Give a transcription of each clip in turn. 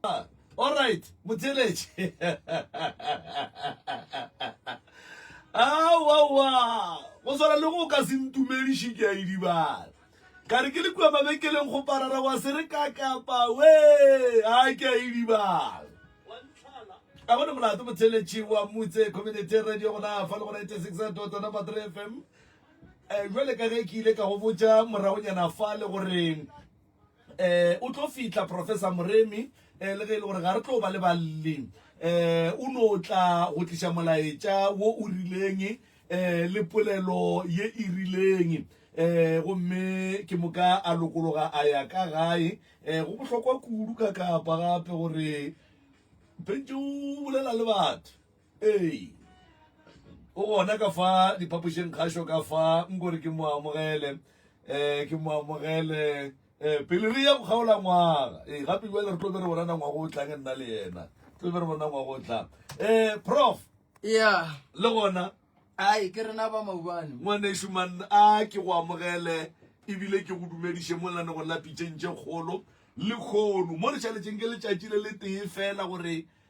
All right, Mutelech. Ah, wow, wow. Go swana le go ka se ntumediše ke a idibala. Ka re ke le kua mabekeleng go parara wa se re ka kapa we. Ah, ke a idibala. A bona molato Mutelech wa Mutse Community Radio gona fa le go 96.3 number 3 FM. Eh, jwale ka ge ke ile ka go botša moragonyana fa le goreng um o tlo fihla professor moremi um le ge e le gore ga re tlo ba le balle um o no tla go tliša molaetša wo o rileng um le polelo ye e rileng um gomme ke moka a lokologa a ya ka gae um go bohlokwa kudu ka kapa gape gore pentše o bolela le batho ee o gona ka fa diphapošeng kgašo ka fa nkore ke mo amogele um ke mo amogele um pele re ya go kgaola ngwaga ee gape jale re tlo be re bonana ngwaga o tlang nna le yena tlo be re bona ngwaga o tlang um prof ya le gona ai ke rena ba maubane ngwanešu man a ke go amogele ebile ke go dumediše mo lane go lapitšeng tše kgolo le kgono mo re šaletšeng ke letšatši le le tee fela gore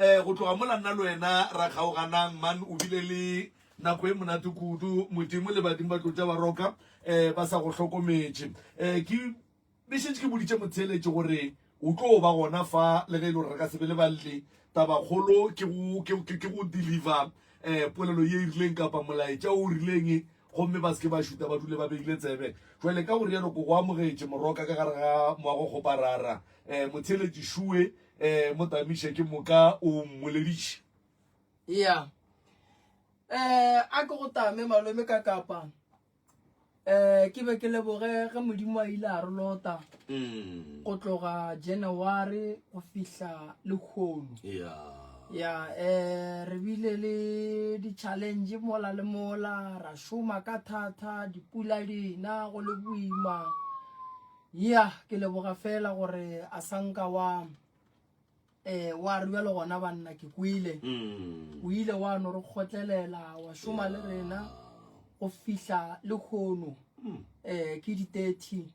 Eh, go tloga mola nna le wena ra kgaoganang man o bile le nako e monate kudu modimo le badimo ba tlotša ba roka eh ba sa go hlokometše eh ke be šetše ke boditše motheeletše gore o tlo ba gona fa le ge e le gore re ka se be le balle tabakgolo ke go ke ke ke go deliver eh polelo ye e rileng kapa molaetša o rileng gomme ba seke ba šuta ba dule ba beile tsebe jwale ka go rialo ko go amogetše moroka ka gare ga moago kgoparara eh motheeletše šue Ee, mo tamiše ke moka o mmolediše. Ya. Ee, a ke go tame malome ka kapa. Ee, ke be ke leboge ge Modimo a ile a re lota. Mm. Go tloga January go fihla le khono. Ya. Ya, ee, re bile le di challenge mola le mola, ra shoma ka thata, dipula dina go le boima. ya ke leboga fela gore a sa nka wa eh wa re bjalo gona banna ke kwele mm. o ile wa no re kgotlelela wa šoma le rena go fihla le kgono mm. eh ke di 30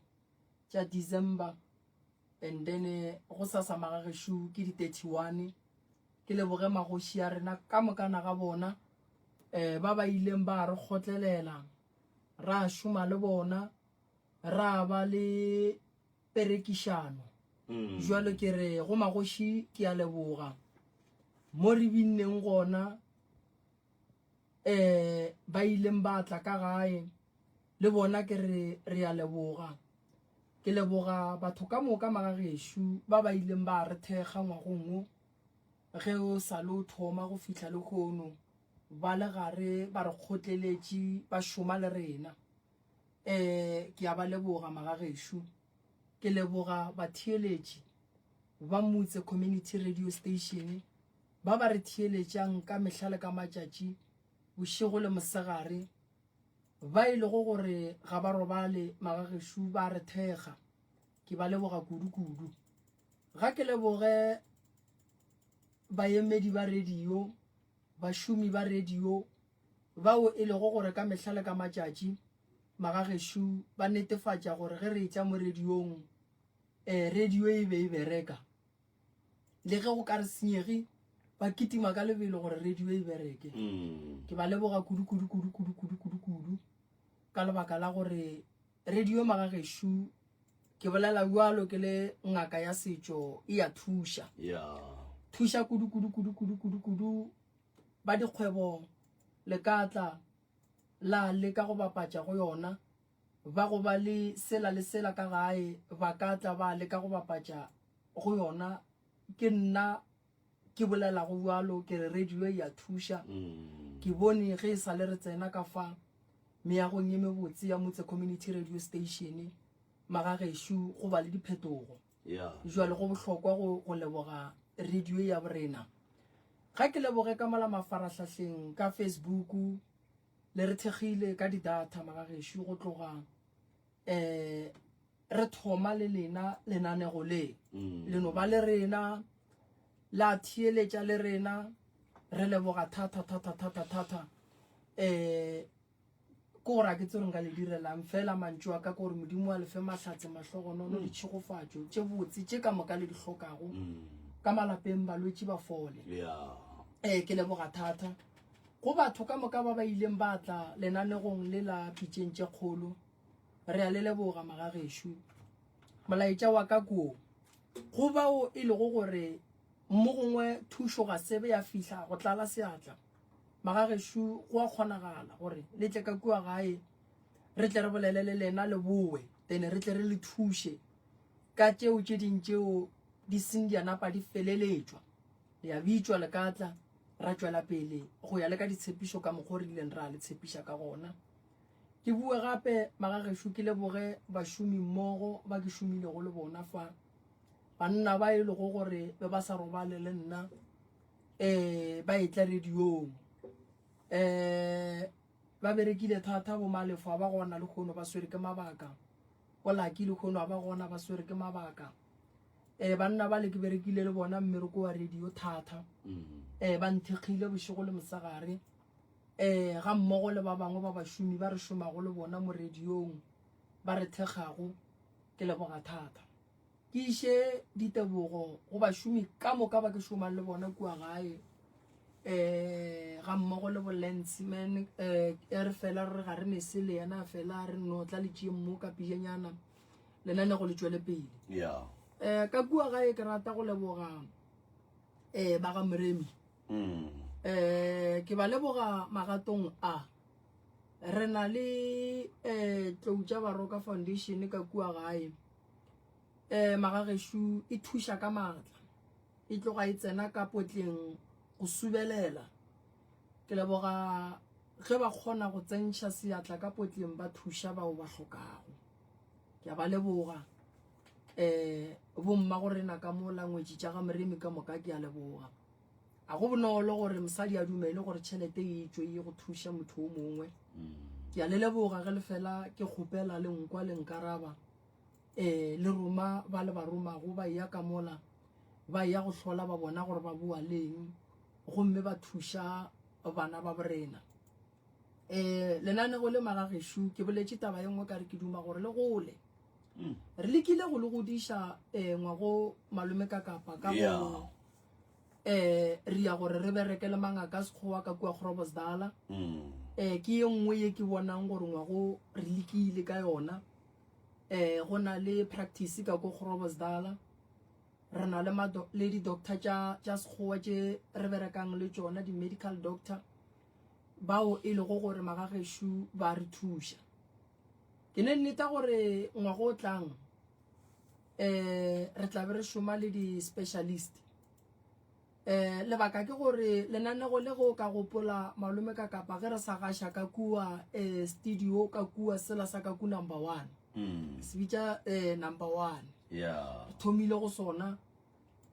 tša december and then eh, go sa sa magageshu ke di 31 ke leboge magoši ya rena ka mokana ga bona eh ba ba ileng ba re kgotlelela ra šoma le bona ra ba le perekišano mm. jalo ke re go magoši ke a leboga mo re binneng gona um ba ileng ba tla ka gae le bona ke re re a leboga ke leboga batho ka moka magagešu ba ba ileng ba re thekga ngwagongwo ge o sa le o thoma go fitlha le kgono ba le gare ba re kgotleletše ba šoma le rena Ee, ke a ba leboga magagešo. Ke leboga batheeletši ba Motse Community Radio Station ba ba re theeletšang ka mehla le ka matšatši, bošego le mosegare, ba e lego gore ga ba robale magagešo ba re thekga. Ke ba leboga kudu-kudu. Ga ke leboge baemedi ba radio Bašomi ba radio bao e lego gore ka mehla le ka matšatši magagešo ba netefatša gore ge re etša mo radiong, eh, radio e be e bereka. Le ge go ka re senyege, ba kitima ka lebelo gore radio e bereke. Mm. Ke ba leboga kudu kudu kudu kudu kudu kudu kudu ka lebaka la gore Radio Magagešo ke bolela bjalo ke le ngaka ya setšo e ya thuša thuša kudu kudu kudu kudu kudu kudu ba dikgwebo le ka tla la le ka go bapatša go yona ba go ba le sela le sela ka gae ba ka tla ba le ka go bapatša go yona ke nna ke bolela go bjalo ke re radio e ya thuša mm. ke bone ge e sa le re tsena ka fa meagong e mebotse ya motse community radio station magageshu go ba le diphetogo jwale go bohlokwa go leboga radio ya borena ga ke leboge ka mola mafarahlahleng ka facebook le re thekgile ka di-data magageshu go tloga um Re thoma le lena lenanego le, le no ba le rena, la theeletša le rena. Re leboga thata, thata, thata, thata. Um Ke gore a ke tsere nka le direlang, fela mantšu a ka ke gore Modimo a le fe mahlatse, mahlogonono, ditšhegofatšo tše botse tše ka moka le di hlokago ka malapeng, balwetši ba fole. Um Ke leboga thata go batho ka moka ba ba ileng ba tla lenanegong le la Pitšeng tše Kgolo. Re a le leboga magagešo. Molaetša wa ka ko go bao e lego gore mo gongwe thušo ga sebe ya fihla go tlala seatla. Magagešo go a kgonagala gore le tle ka kua gae re tle re bolele le lena le bowe then re tle re le thuše ka tšeo tše ding tšeo di seng di a napa di feleletšwa. Le a bitšwa le ka tla ra tšwela pele go ya le ka ditshepišo ka mokgwa o re ileng ra le tshepiša ka gona. Ke bue gape magagešo ke leboge bašomi mmogo ba ke šomilego le bona fa banna ba e lego gore be ba sa robale le nna um ba etla radiong um eh, ba berekile thata bomalefo a ba gona le kgono ba swere ke mabaka bolaki le kgono a ba gona ba swere ke mabaka um banna ba le ke berekile le bona mmereko wa radio thata um ba nthekgile bošego le mosegare um ga mmogo le ba bangwe ba bašomi ba re šomago le bona mo radiong ba re thekgago ke leboga thata ke iše ditebogo go bašomi ka moka ba ke šomang le bona kua gae um ga mmogo le bolanceman um eh, e re fela re ga re ne se le yena fela re no tla le tšee mo ka pijanyana lenane go le tšwele pele um eh, ka kua gae ke rata go leboga um ba ga moremi um ke ba leboga magatong a re na le um tloutša baroka foundation ka kua gae um magagešu e thuša ka maatla e tloga e tsena ka potleng go subelela ke leboga ge ba kgona go tsentšha seatla ka potleng ba thuša bao ba hlokago ke a ba leboga um bomma go rena ka mo langwetši tša ga moremi ka moka ke a leboga a go bonolo gore mosadi a dumele gore tšhelete e tswe ye go thuša motho o mongwe mm. ke a le leboga ge le fela ke kgopela le nkwa le nkaraba um le roma ba le ba romago ba eya ka mola ba eya go hlola ba bona gore ba boa leng gomme ba thuša bana ba borena um lenanego le magagešu ke boletše taba ye nngwe ka re ke duma gore le gole mm. re lekile go le godiša um ngwago malome ka kapa ka go eh re ya gore re bereke le mangaka a sekgowa ka kua grobosdala um eh, ke ye nngwe ye ke bonang gore ngwago re lekile ka yona eh go na le practice ka ko grobosdala re na le mado- le di-doctor tša tša sekgowa tše re berekang le tšona di-medical doctor bao e lego gore magagešu ba re thuša ke ne nneta gore ngwago o tlang eh re tla be re šoma le di-specialist eh lebaka ke gore lenanego le go ka gopola malome ka kapa ge re sa gaša ka kua um studio ka kua sela sa ka ku number one mm. se bitša um number one yeah. re thomile go sona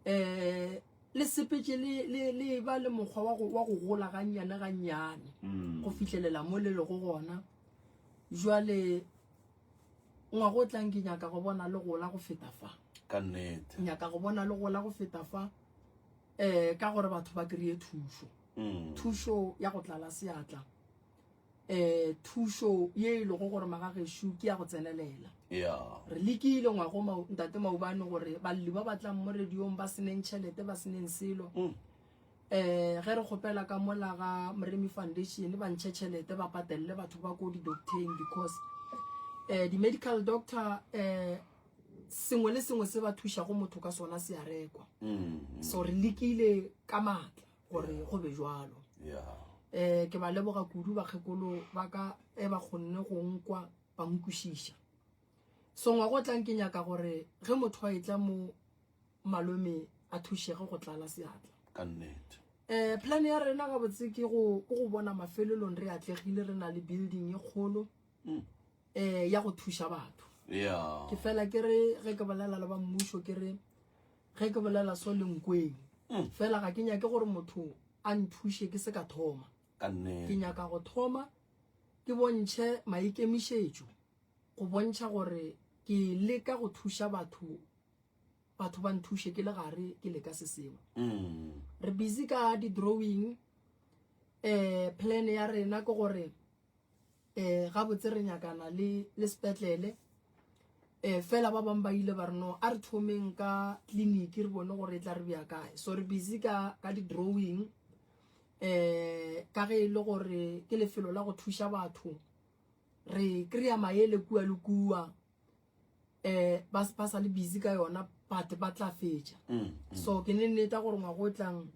um le sepetse le ba le mokgwa wa go gola gannyane gannyane mm. go fitlhelela mo le lego gona jwale ngwago o tlang ke nyaka go bona le gola go feta fa ka nnete nyaka go bona le gola go feta fa eh ka gore batho ba kry-e thušo mm. thušo ya go tlala seatla eh thušo ye e lego gore magagešu ke ya go tsenelela re lekile ngwago ntate maubane gore balli ba batlang mo radiong ba seneng tšhelete ba seneng selo mm. um ge re kgopela ka mola ga moremi foundation ba ntšhe tšhelete ba patelele batho ba ko di-docteng because um di-medical doctor um sengwe le sengwe se ba thušago motho ka sona se a rekwa mm-hmm. so re lekile ka maatla gore go be jalo um ke ba leboga kudu bakgekolo ba ka e ba kgonne go nkwa ba nkwešiša songwa go tlang ke nyaka gore ge motho a e tla mo malome a thušege go tlala seatla ka nnete um plan ya rena ga botse ke go bona mafelelong re atlegile re na le building e kgolo um ya go thuša batho ke fela ke re ge ke bolela le ba mmušo ke re ge ke bolela so lenkweng mm. fela ga ke nyake gore motho a nthuše ke se ka thoma ke nyaka go thoma ke bontšhe maikemišetšo go bontšha gore ke leka go thuša batho batho ba nthushe ke le gare ke leka se sengwe mm. re busy ka di-drawing um plan ya rena ke gore um gabotse re nyakana le sepetlele um fela ba bangwe ba ile ba re no a re thomeng ka clinic re bone gore e tla re bja kae so re busy ka di-drawing um ka ge e le gore ke lefelo la go thuša batho re kry-a maele kua le kua eh ba ba sa le busy ka yona but ba tla fetša mm, mm. so ke ne nneta gore ngwa go tlang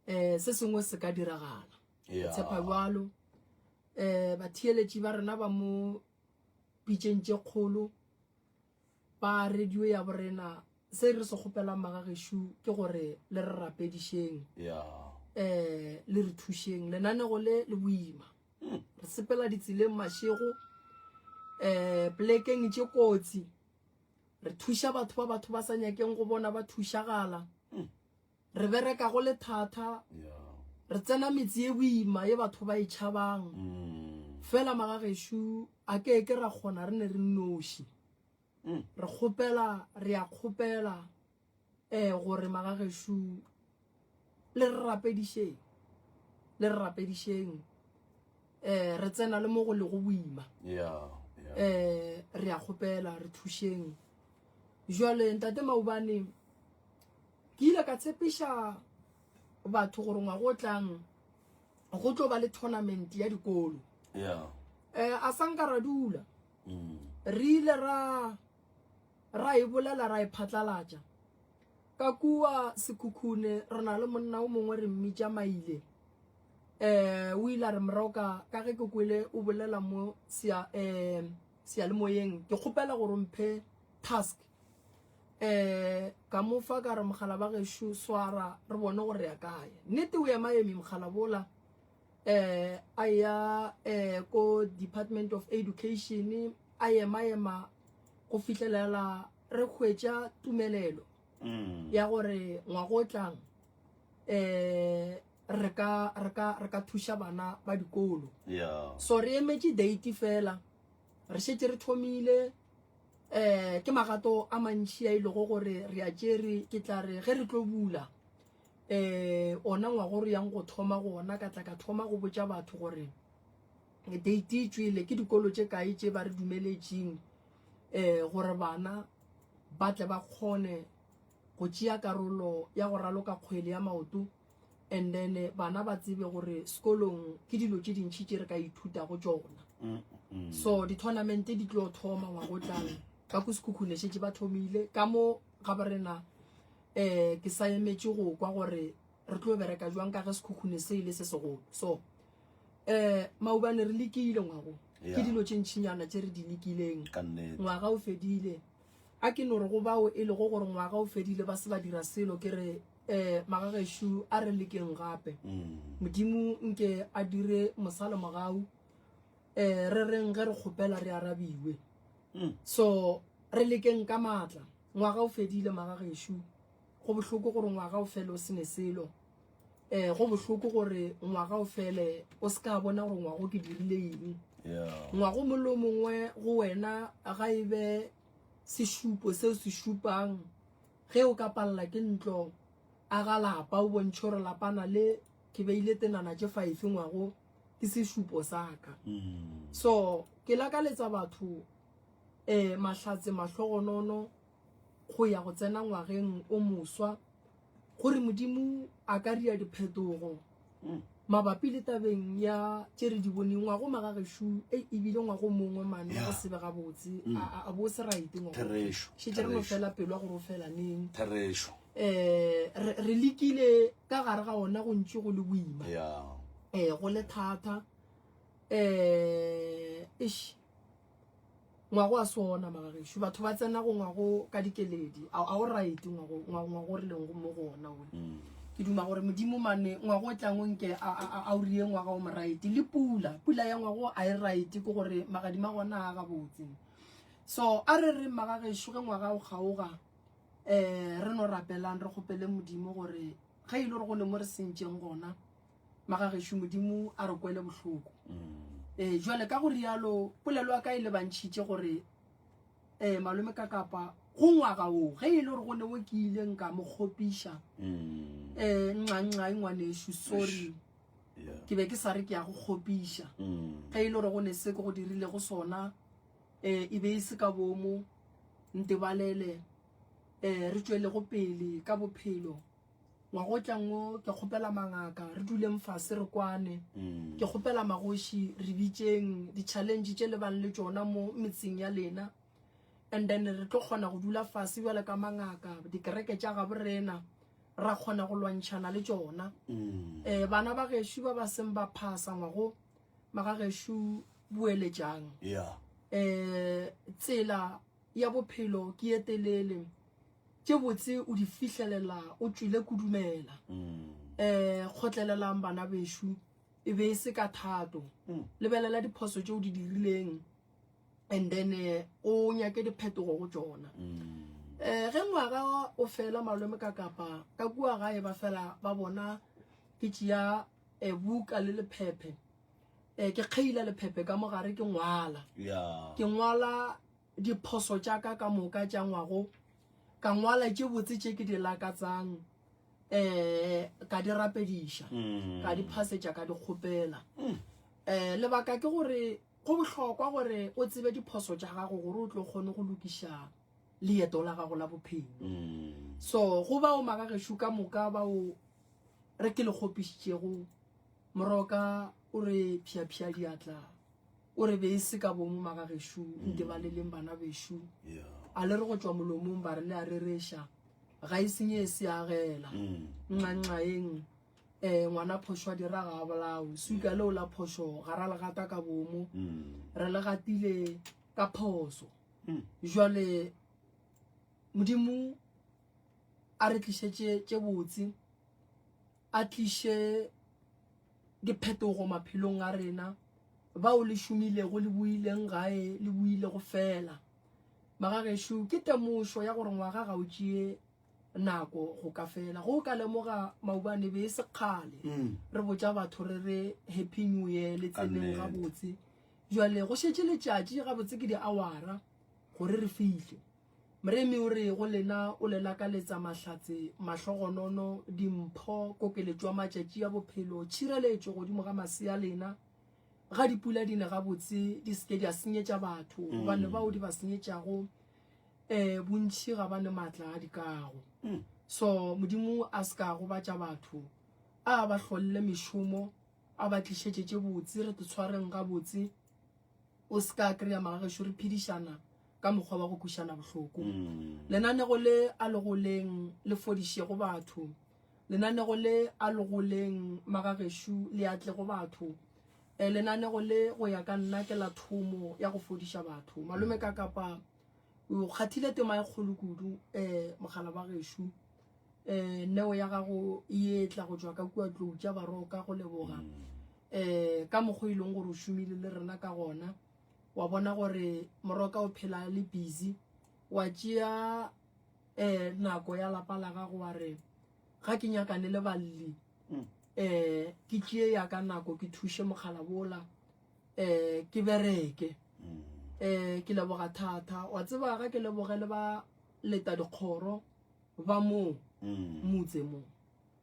eh se sengwe se ka diragala tshepa jalo eh batheeletši ba rena ba mo pitšeng tše kgolo ba radio ya borena se re se kgopelang magagešu ke gore le re rapedišeng um le re thušeng lenanego le le boima re sepela ditseleng mašego um plekeng tše kotsi re thuša batho ba batho ba sa nyakeng go bona ba thušagala re bereka go le thata re tsena metse e boima ye batho ba e tšhabang mm. fela magagešu a ke ke ra kgona re ne re noši mm. re kgopela re ya kgopela eh gore magagešu le re rapedišeng le re rapedišeng eh re tsena le mo go le go boima yeah yeah eh re a kgopela re thušeng jwale ntate maubane ke ile ka tshepiša batho gore ngwa go tlang go tlo ba le tournament ya dikolo yeah eh a sanka ra dula mm. re ile ra ra e bolela ra e phatlalatša ka kua sekhukhune re na le monna o mongwe re mmitša maile um o ile a re moroka ka ge ke kwele o bolela mo um seyalemoyeng ke kgopela gore mphe task um ka mo fa ka re mogala ba gešo swara re bone gore ya kae nnete o ema eme mogala bola eh a ya eh ko department of education a yema yema go fihlelela re hwetša tumelelo mm. ya gore ngwago o tlang eh re ka re ka re ka thuša bana ba dikolo yeah. so re emetše date fela re šetse re thomile eh ke magato a mantši a ilego gore re a tšere ke tla re ge re tlo bula um ona ngwaga o re yang go thoma go ona ka tla ka thoma go botša batho gore date e tšwele ke dikolo tše kae tše ba re dumeletšeng um eh, gore bana ba tle ba kgone go tšea karolo ya go raloka kgwele ya maoto and then eh, bana ba tsebe gore sekolong ke dilo tše dintšhi tše re ka ithuta go tšona mm, mm. so di-tournamente di tlo thoma ngwago tlang ka ko sekhukhune šetse ba thomile ka mo ga ba rena um ke sa emetše go kwa gore re tlo bereka jwang ka ge sekhukhune se e le se segolo so um maubane re lekile ngwago ke dilo tše ntšhinyana tše re di lekileng ngwaga o fedile a ke no re go bao e lego gore ngwaga o fedile ba se ba dira selo ke re um magagešo a re lekeng gape mm. modimo nke a dire mosalo mogau um re reng ge re kgopela re arabiwe hmm. so re lekeng ka maatla ngwaga o fedile magagešo go bohloko gore ngwaga o fele o sene selo um go bohloko gore ngwaga o fele o se ka bona gore ngwago ke dirile eng ngwago molo mongwe go wena ga e be sešupo seo se šupang ge o ka palela ke ntlo a ga lapa o bontšhe gore lapana le ke beile tenana tše five ngwago ke sešupo sa ka mm. so ke lakaletsa batho um mahlatse mahlogonono go ya go tsena ngwageng o moswa gore modimo a ka ria diphetogo mm. mabapi le tabeng ya tše re di boneng ngwago magagešu e ebile ngwago mongwe mane go sebe ga botse mm. a bo se raite ngwagošetše re no fela pelo ya gore o fela neng um re lekile ka gare ga ona go ntši go le boima um go le thata um ish ngwago a sona magagešu batho ba tsena go ngwago ka dikeledi a o right ngwago re leng mo go ona one mm. ke duma gore modimo mane ngwago o tlang o nke a o rie ngwaga o mo right le pula pula ya ngwago a e right ke gore magadima gona a gabotse so a re re magagešu ge ngwaga o kgaoga um re no rapelang re kgopele modimo gore ge e le gore go le mo re sentšeng gona magagešo modimo a re kwele bohloko um jale ka go rialo polelo ya ka e lebantšhitše gore um malome ka kapa go ngwaga o ge e le gore go ne o ke ile nka mo kgopiša um nxanxa e ngwanešu sorry ke be ke sa re ke ya go kgopiša ge e le gore go ne se ke go dirilego sona um e be e se ka bomo ntebalele um re tšwelego pele ka bophelo ngwagotlang wo ke kgopela mangaka re duleng fase re kwane mm. ke kgopela magoši re bitseng di-challenge tše le bang le tšona mo metseng ya lena and then re tlo kgona go dula fase bjale ka mangaka dikereke tša gabo rena ra kgona go lwantšhana le tšona um bana ba gešu ba ba seng ba phasa ngwago magageshu boeletšang yeah. eh tsela ya bophelo ke ye telele tše botse o di fihlelela o tswile kudumela mm. eh kgotlelelang bana beshu e be e se ka thato mm. lebelela diphoso tše o di dirileng and then eh, o nyake diphetogo go tsona mm. eh ge ngwaga o fela malome ka kapa ka kua gae ba fela ba bona ke tšea e buka le lephephe e ke kgeila lephephe ka mogare ke ngwala ke ngwala diphoso tša ka ka moka tša ngwago ka ngwala tše botse tše ke di lakatsang um ka di rapediša mm. ka di phasetša ka di kgopela um lebaka ke gore go bohlokwa gore o tsebe diphoso tša gago gore o tlo kgone go lokišang leeto la gago la bophelo mm. so go bao magagesho ka moka bao re ke le kgopišitšego moroka o re phiaphia diatla o re be e se ka bomo magagesho mm. nke ba le leng bana besho a le re go tšwa molomong ba re le a rereša ga e senye e se agela mm. nxanxaeng um eh, ngwana phošwa dira ga a bolao suka leo la phošo ga ra legata ka bomo re le gatile ka phoso hmm. jwale modimo a re tlišetše tše botse a tliše diphetogo maphelong a rena bao le šomilego le buileng gae le builego fela magagešo ke temošo ya gore ngwaga ga o tšee nako go ka fela go ka lemoga maubane be e sekgale mm. re botša batho re re happy new year le tseneng gabotse Bjale go šetše letšatši gabotse ke diawara gore re fihle. Moremi o re go lena o le lakaletsa mahlatse, mahlogonono, dimpho, kokeletšo ya matšatši a bophelo, tšhireletšo godimo ga masea lena, ga dipula di ne gabotse di se ke di a senyetša batho mm. gobane bao di ba senyetšago eh bontši ga ba ne matla a dikago mm. so modimo a se ka gobatša batho a ba hlolle mešomo A ba tlišetše tše botse, re tshwareng gabotse. O se ka kry-a magagešo re phedišana ka mokgwa wa go kwišana bohloko. Mm. Lenanego le a legoleng le fodišego batho. Lenanego le a legoleng magagešo le a tle go batho. Eh, lenanego le go ya ka nna ke la thomo ya go fodiša batho. Malome ka kapa o kgathile tema e kgolo kudu um eh, mogala ba gešo um eh, neo ya gago e etla go tswa ka kua tlou tša baroka go leboga um eh, ka mokgwa e leng gore o šomile le rena ka gona wa bona gore moroka o phela le busy wa tšea eh nako ya lapa la gago wa re ga ke nyakane le balli um ke tšee ya ka nako ke thuše mokgala bola um ke bereke um ke leboga thata wa tseba ga ke leboge le ba leta dikgoro ba moo motse moo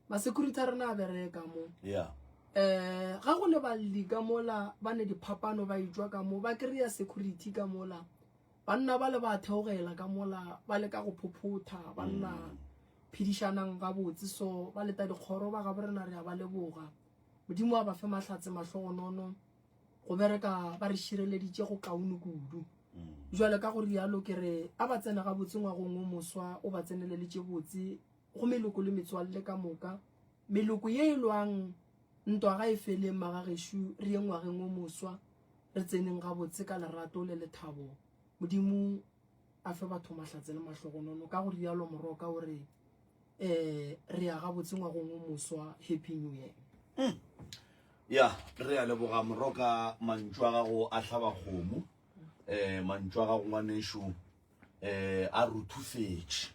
masecurity a rena a bereka mo yeah um ga go le balli ka mola ba ne diphapano ba etswa ka mo ba kry-a security ka mola banna ba le ba theogela ka mola ba leka go phophotha banna phedišanang gabotse so ba leta dikgoro ba gabo rena re a ba leboga modimo a ba fe mahlatse mahlogonono go bereka ba re šireleditše go kaone kudu mm. jwale ka gore yalo ke re a ba tsena ga botse ngwagong o moswa o ba tseneleletše botse go meloko le metswalle ka moka meloko ye e lwang ntwa ga e feleng magagešu re ye ngwageng o moswa re tseneng ga botse ka lerato le lethabo modimo a fe batho mahlatse le mahlogonono ka gore yalo moroka o re eh re ya ga botse ngwagong o moswa happy new year hmm. ya re ya leboga moroka mantšu a gago a hlaba kgomo um eh, mantšu a gago ngwaneso um eh, a ruthufetše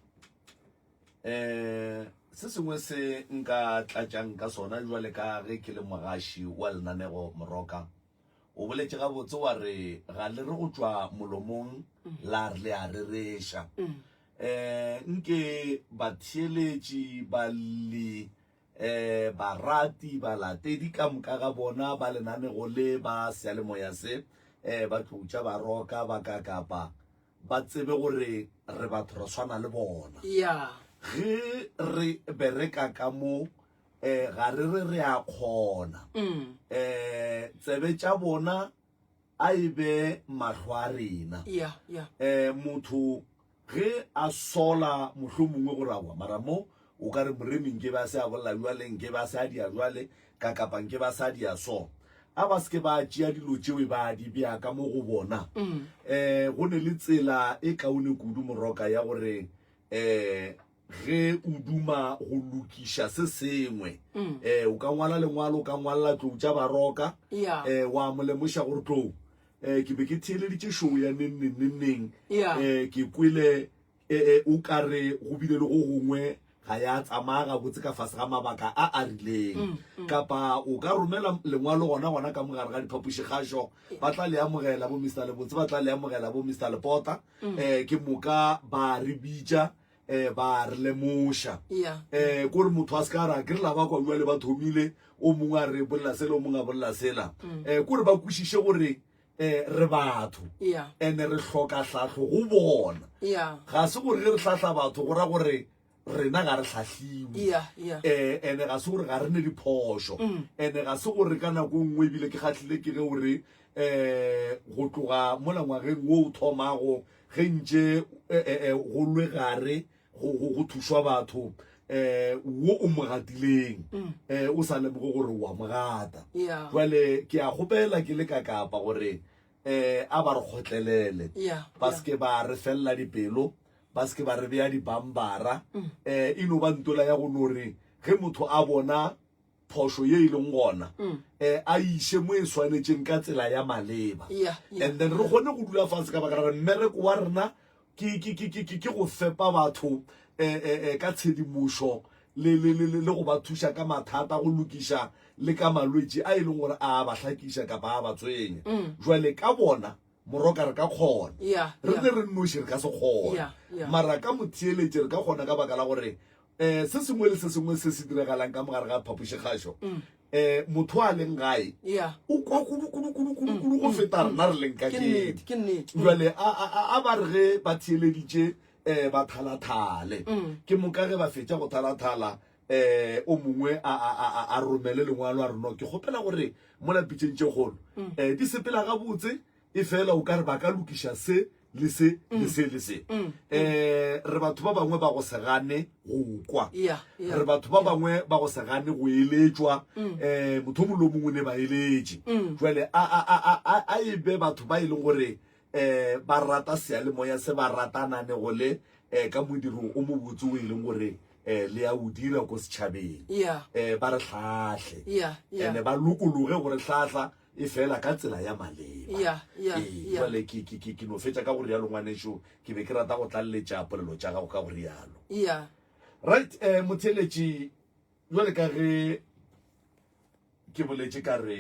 um eh, se sengwe se nka tlatšang ka sona jwale ka ge ke le mogaši wa lenanego moroka O boletše gabotse wa re ga le re go tšwa molomong la re le a rereša. Um nke batheeletši, balli, um barati, balatedi ka moka ga bona ba lenanego le ba seyalemoya se, um ba tloutša baroka ba ka kapa ba tsebe gore re batho re swana le bona. Ya. Ge re bereka ka mo eh ga re re re a kgona um tsebe tša bona a e be mahlo a rena ya ya eh motho ge a sola mohlo mongwe go rawa mara mo o ka re moremi nke ba se a bolela jwale nke ba se a dia jwale ka kapa nke ba sa dia so a ba seke ba tšea dilo tšeo ba di bea ka mo go bona eh go ne le tsela e kaone kudu moroka ya gore eh ge o duma go lokiša se sengwe um o ka ngwala lengwalo o ka ngwalela tlou tša baroka um wa mo lemoša gore tlou um ke be ke theeleditše show ya nengneng nengneng um ke kwele um o ka re go bile le go gongwe ga ya tsamaya gabotse ka fase ga mabaka a a rileng mm, mm. kapa o ka romela lengwalo gona gona ka mogare ga diphapoši kgašo ba tla le amogela bo mr lebotse ba tla le amogela bo mr lepota um ke moka ba re bitša eh ba re lemoša yeah. eh kore motho a se ka ra ke re la ba kwa jale ba thomile o mongwe a re bolela sela o mongwe a bolela sela mm. eh kore ba kwešiše gore eh re batho yeah. and re hloka hlahlo go bona yeah. ga se gore ge re hlahla batho go ra gore rena ga re tlhatlhiwe yeah, yeah. eh and ga se gore ga re ne diphošo mm. and ga se gore ka nako e nngwe ebile ke kgatlhile ke ge o re eh go tloga mo langwageng wo o thomago ge ntše go lwe gare go thušwa batho um wo o mo gatileng um o sa lemoge gore wa mo gata jale ke a gopela ke le ka kapa gore um a ba re kgotlelele ba seke ba re felela dipelo ba seke ba re beya dibambara um e no ba ntola ya go no re ge motho a bona phošo ye e leng gona um a iše mo e swanetšeng ka tsela ya maleba yeah, yeah, and then re kgone go dula fase ka baka ra re mmereko wa rena ke go fepa batho um ka tshedimošo le go ba thuša ka mathata go lokiša le ka malwetši a e leng gore a ba hlakiša kapa a ba tswenya mm. jwale ka bona moroka re ka kgona Yeah, re yeah. ne re nnoši re ka se kgona Yeah, yeah. mara ka motheeletše re ka kgona ka baka la gore um se sengwe le se sengwe se se diragalang ka mogare ga phapošikgašo um motho a leng gae Mm. Yeah. Mm. o kwa kudukudukudukudu go feta rena re leng ka Ke nnete, kene ke nnete. Mm. jale a- a a- a ba re ge ba theeleditše um ba thalathale Mm. ke moka ge ba fetša go thalathala eh o mongwe a a a a romele lengwalo a re no ke kgopela gore mo lapitseng tše kgolo mm. eh di sepela ga botse e fela o ka re ba ka lokiša se le se le mm. se le se mm. eh re batho ba bangwe ba go se gane go kwa re batho ba bangwe ba go se gane go eletswa eh motho molo mongwe ne ba eletše jwale a a a a e be batho ba e leng gore eh, ba rata sealemoya se ba ratananego le eh, ka modiro o mobotse o e leng gore eh, le ya o dira ko setšhabeng yeah. eh, ba re hlahle yeah, yeah. ene ba lokologe gore hlahla e fela ka tsela ya maleba yeah, yeah, ee, yeah. jale ke, ke, ke, ke no fetša ka go rialo ngwaneso ke be ke rata go tlaleletša polelo tša gago ka go rialo yeah. right eh, motheletši jale ka ge ke boletše ka re